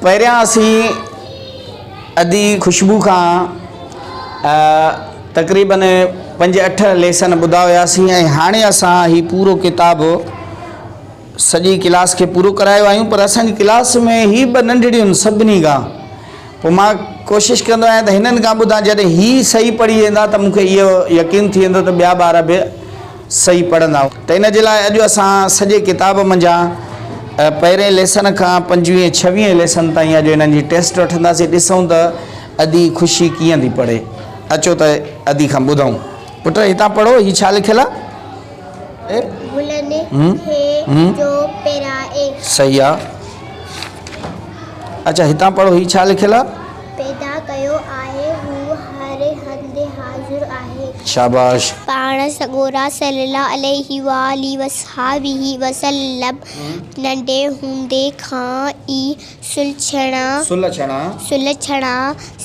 پهريان اسين ادي خوشبو کان تقريباً پنج اٺ ليسن ٻڌا هياسين ۽ هاڻي اسان هي پورو ڪتاب سڄي ڪلاس کي پورو ڪرايو آهيون پر اسان جي ڪلاس ۾ هي ٻه ننڍڙيون سڀني کان پوء مان ڪوشش ڪندو آهيان ته هنن کان ٻڌان جڏهن هي صحيح پڙهي ويندا ته مون کي اهو يقين ٿي ويندو ته ٻيا ٻار به صحيح پڙهندا ته ان جي لاء اڄ اسان سڄي ڪتاب منجهان پهرين ليسن کان پنجويهين ڇويهين ليسن تائين اڄ انهن جي ٽيسٽ وٺنداسين ڏسون ته ادي خوشي ڪيئن ٿي پڙهي اچو ته ادي کان ٻڌون پٽ هتان پڙهو هي ڇا لکيل آهي گلن کي جو پيرائي صحيح آهي اچا هتان پڙهو هي ڇا لکيل آهي. پيدا ڪيو آهي، هو هر هنڌ حاضر آهي. شاباش. پاڻ سڳورا صلّي اللّٰه عليه واٰله وصحٰبه وسلّم ننڍي هوندي کان ئي سلڇڻا، سلڇڻا،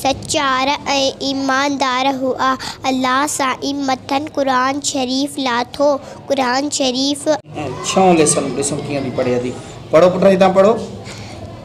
سچار ۽ ايماندار هئا. الله سائين مٿن قرآن شريف لاٿو، قرآن شريف. ۽، ڇهون ليسن، ڏسون ڪيئن ٿي پڙهي ٿي. پڙهو پٽ هتان پڙهو.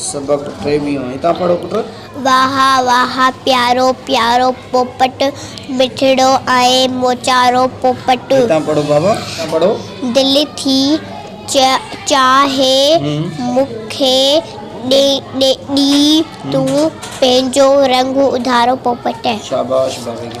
سبق ٽيويهون، هتان پڙهو پٽ. واهه واهه پيارو پيارو پوپٽ. مٺڙو ۽ موچارو پوپٽ. هتان پڙهو بابا، هتان پڙهو. دل ٿي چاهي مون کي ڏي تون پنهنجو رنگ اڌارو پوپٽ. شاباش بابي کي.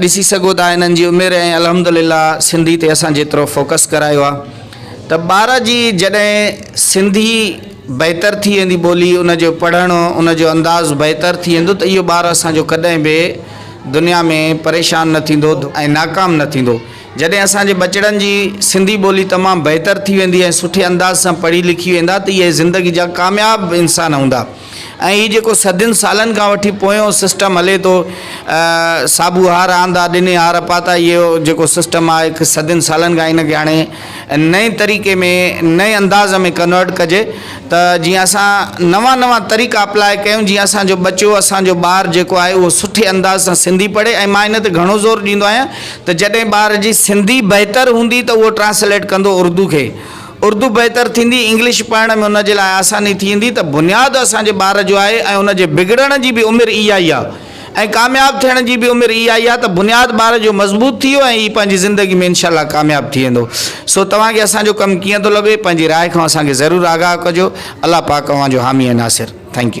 ڏسي سگهو ٿا انهن جي عمر ۽ الحمدلله سنڌي تي اسان جيترو فوڪس ڪرايو آ ته ٻار جي جڏهن سنڌي بهتر ٿي ويندي ٻولي ان جو پڙهڻ ان جو انداز بهتر ٿي ويندو ته اهو ٻار اسان جو ڪڏهن به دنيا ۾ پريشان نه ٿيندو ۽ ناڪام نه ٿيندو جڏهن اسان جي ٻچڙن جي سنڌي ٻولي تمام بهتر ٿي ويندي ۽ سٺي انداز سان پڙهي لکي ويندا ته اهي زندگي جا ڪامياب انسان هوندا. ۽ هي جيڪو صدين سالن کان وٺي پويون سسٽم هلي ٿو صابو هار آندا ڏني هار پاتا اهو جيڪو سسٽم آهي هڪ صدين سالن کان ان کي هاڻي نئين طريقي ۾ نئين انداز ۾ ڪنورٽ ڪجي ته جيئن اسان نوان نوان طريقا اپلاء ڪيون جيئن اسان جو ٻچو اسان جو ٻار جيڪو آهي اهو سٺي انداز سان سنڌي پڙهي ۽ مان ان تي گهڻو زور ڏيندو آهيان ته جڏهن ٻار جي سنڌي بهتر هوندي ته اهو ٽرانسليٽ ڪندو اردو کي اردو بهتر ٿيندي، انگلش پڙهڻ ۾ ان جي لاء آساني ٿيندي ته بنياد اسان جي ٻار جو آهي ۽ ان جي بگڙڻ جي به عمر اها ئي آهي ۽ ڪامياب ٿيڻ جي به عمر اها ئي آهي ته بنياد ٻار جو مضبوط ٿي ويو ۽ هي پنهنجي زندگي ۾ انشاء الله ڪامياب ٿي ويندو سو توهان کي اسان جو ڪم ڪيئن ٿو لڳي پنهنجي راء کان اسان کي ضرور آگاهه ڪجو الله پاڪ اوهان جو حامي ۽ ناصر ٿينڪ يو.